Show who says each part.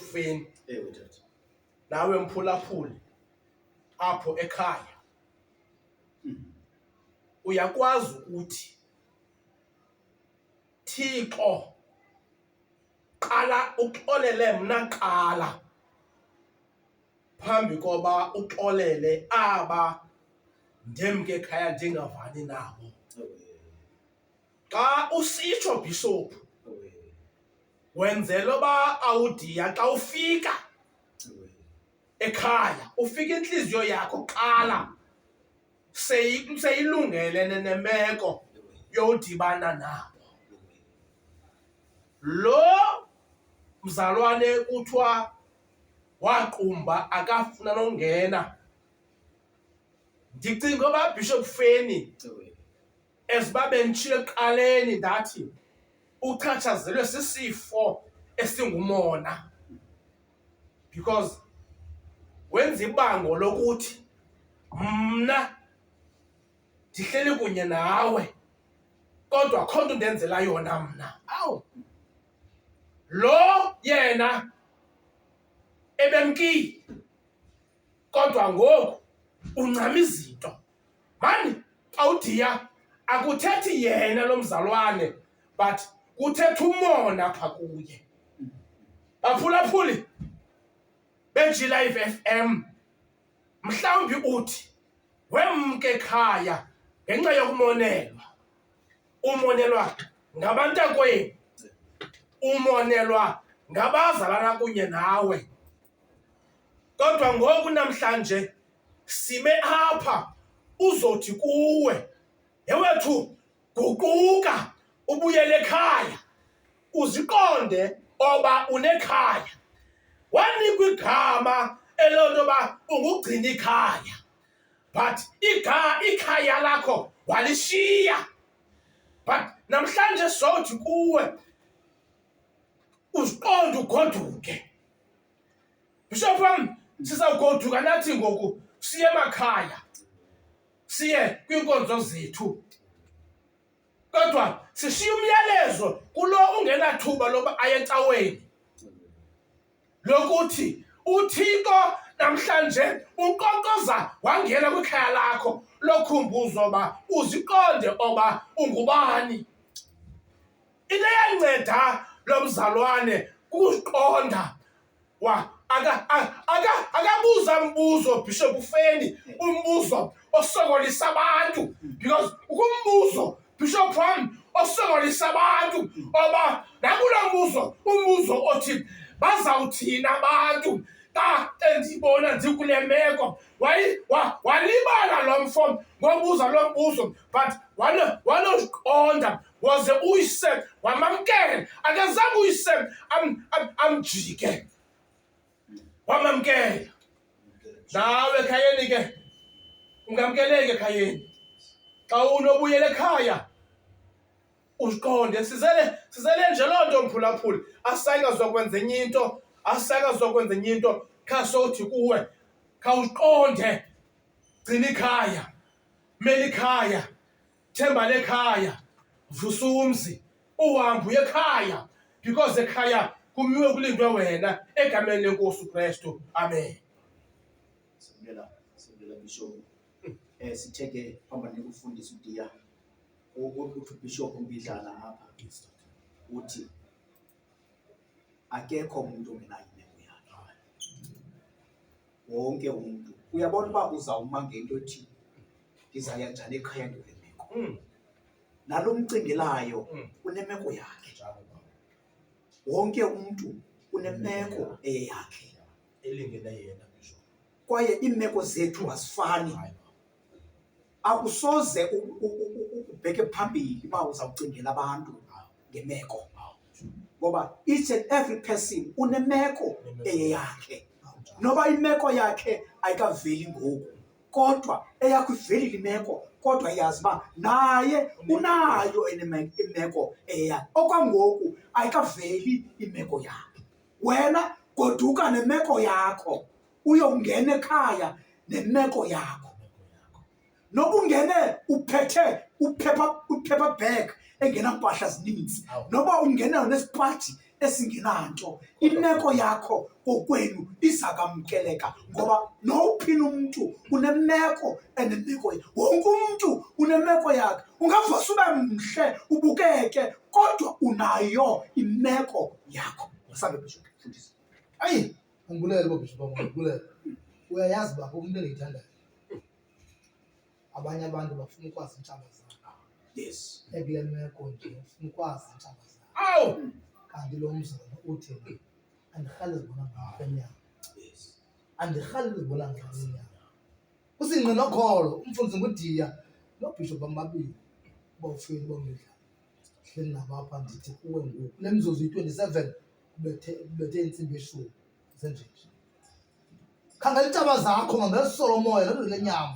Speaker 1: ekufeni Ewe tata. nawe mphulaphuli apho ekhaya Mhm. uyakwazi ukuthi thixo qala uxolele mna qala phambi koba uxolele aba ndemke ekhaya ndingavani nabo Ewe. Xa usitsho bhishophu wenzela uba awudiya xa ufika ekhaya ufika intliziyo yakho kuqala seyi- seyilungelene nemeko yodibana nabo lo mzalwane kuthiwa waqumba akafuna nongena ndicinga uba bhishophu feni As uba benditshilo ekuqaleni ndathi uchatshazelwe sisifo esingumona because wenza ibango lokuthi mna ndihleli kunye nawe kodwa kho nto ndenzela yona mna awu lo yena ebemkile kodwa ngoku uncama izinto mani xa udiya akuthethi yena lo mzalwane but kuthetha umona apha kuye baphulaphuli bejilive f m mhlawumbi uthi wemke ekhaya ngenxa yokumonelwa umonelwa ngabantakwenu umonelwa ngabazalana kunye nawe kodwa ngoku namhlanje sibe apha uzothi kuwe yewethu guquka ubuyele ekhaya uziqonde oba unekhaya wanikwa igama elonto ba ungugcina ikhaya but iga ikhaya lakho walishiya but namhlanje sothi kuwe uziqonde ugoduke bishop wam sizawugoduka nathi ngoku siye emakhaya siye kwiinkonzo zethu kodwa sishiya umyalezo kulo ungenathuba loba aye ecaweni lokuthi uThixo namhlanje unkqonkqoza wangena kwikhaya lakho lokhumbuzo oba uziqonde oba ungubani into eyanceda lo mzalwane kukuziqonda akabuza mbuzo bishop ufeni umbuzo osokolisa abantu because ukumbuzo Bishop wam osokolisa abantu oba nakulo mbuzo umbuzo othi bazawuthini abantu xa endibona ndikule meko walibala lo mfo ngobuza lo mbuzo but wanoqonda waze uyise wamamkele akezange uyise amjike wamamkela nawe ekhayeni ke ungamkeleke ekhayeni xa unobuyela ekhaya uziqonde sizele sizele nje loo nto mphulaphuli asayikazokwenza enye into asayikazokwenza enye into khasothi kuwe khawuziqonde gcina ikhaya meli ikhaya themba lekhaya vusa umzi uhambe uye ekhaya because ekhaya kumiwe kulindwe wena egameni lenkosi ukristu amen
Speaker 2: sibuyela sibuyela bishop eh sithe ke hamba nikufundisa udiya uthi ubishop umbidlana apha uthi Akekho umntu ongenayo imeko yakhe, wonke umntu. Uyabona uba uzawuma ngento ethi ndizaya njani ekhaya ndikule meko. Mm. Nalo mcingelayo Mm. unemeko yakhe, Njalo baba. wonke umntu unemeko eyeyakhe, Elingene
Speaker 1: yena ngisho. kwaye iimeko
Speaker 2: zethu azifani. Hayi baba. akusoze ubheke phambili uba uzawucingela abantu ngemeko ngoba each and every person unemeko eyeyakhe noba imeko yakhe ayikaveli ngoku kodwa eyakho ivelile imeko kodwa iyazi uba naye unayo imeko eyeyakhe okwangoku ayikaveli imeko yakhe wena goduka nemeko yakho uyongena ekhaya nemeko yakho nokungene uphethe uphepha uphepha bag engena mpahla zininzi noba ungena nesipati esingenanto imeko yakho kokwenu izakamkeleka ngoba nowuphina umntu unemeko enemeko wonke umntu unemeko yakhe ungavasa ube mhle ubukeke kodwa unayo imeko yakho ayi
Speaker 3: Umbulele bo bishop bam, umbulele. Uyayazi baba umuntu engiyithandayo. Abanye abantu bafuna ukwazi intshaba zabo. Yes.
Speaker 2: Ekule meko
Speaker 3: nje ufuna ukwazi intshaba zabo. Awu.
Speaker 1: Kanti lo
Speaker 3: mzana uthi andirhali zibona ngakwenyanga. Yes.
Speaker 2: Andirhali
Speaker 3: zibona ngakwenyanga. Usingqi nokholo, umfundisi ngudiya nobishop bam babili. Bawufuyile bomdla. Hleli nabo apha ndithi kuwe ngoku. Le mzuzu yi-27 kubethe kubethe intsimbi eshumi zenjeje khangela iintaba zakho mangelisolomoya loo nto lenyama